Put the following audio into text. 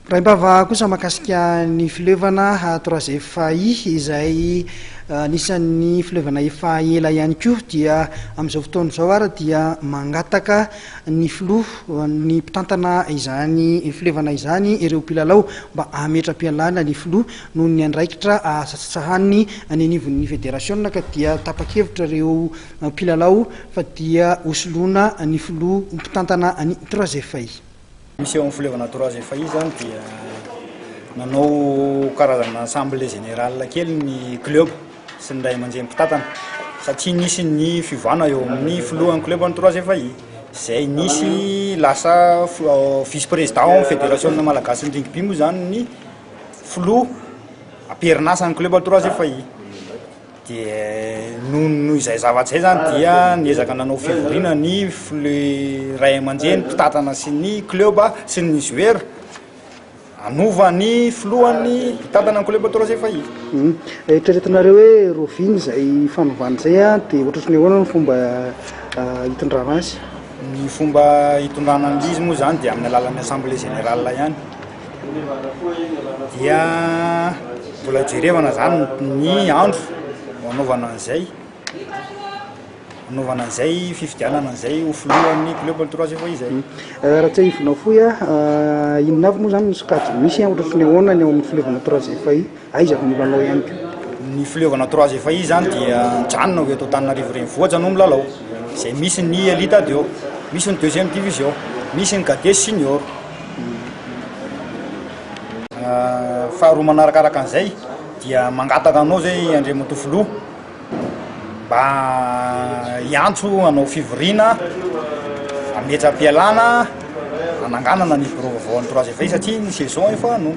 Raim-bava kosa mahakasika ny fileovana troisième faille izay anisan'ny fileovana efa ela ihany koa dia amin'izao fotoana izao ary dia mangataka ny filoha ny mpitantana izany fileovana izany ireo mpilalao mba hametra-pialana ny filoha noho ny andraikitra satsatsahaniny any anivon'ny federasiona ka dia tapa-kevitra ireo mpilalao fa dia hosoloana ny filoha mpitantana ny troisième faille. Misy eo amin'ny Fleuve Naturazy Efahy izany dia nanao karazana assemblée générale kely ny club sy ny ray aman-dreny mpitantana satria nisy ny fiovana eo amin'ny filohan'ny club Naturazy Efahy izay nisy lasa vice président ao amin'ny fédération malagasin'ny rugby moa izany ny filoha am-perin'asa ny club Naturazy Efahy. dia noho izay zavatra izay izany dia niezaka nanao fivoriana ny ray aman-dreny mpitatana sy ny club sy ny joueur hanova ny filohan'ny mpitatana ny club Trois Efahiva. Hmm. Eritreretinareo hoe Rovina izay fanovana izay an dia ohatratry ny ahoana ny fomba ah, hitondrana azy? Ny fomba hitondrana an'izy moa izany dia amin'ny alalan'ny assemblée générale ihany. dia mbola jerevana zany ny andro hanaovana an'izay hanaovana an'izay fifidianana an'izay ho filohan'ny club ny troisième fois izay euh, raha tsy ahivina fohy a ah, inona avy moa zany ny sokajy misy ohatra sy ny ahoana ny ao amin'ny filovana troisième fois Aiza avy ny lalao ihany koa? Ny fileovana trois efa izy zany dia nijanona ho eto Antananarivo renivohitra no milalao izay misy ny elite adio, misy ny deuxième division, misy ny cadet sy senior. Faharoa manarakaraka an'izay dia mangataka anao izay Andriamatoa Filoha mba hiantso hanao fivoriana hametra-pialana hananganana ny birao vaovao an'ny trois efa izy satria ny saison efa no.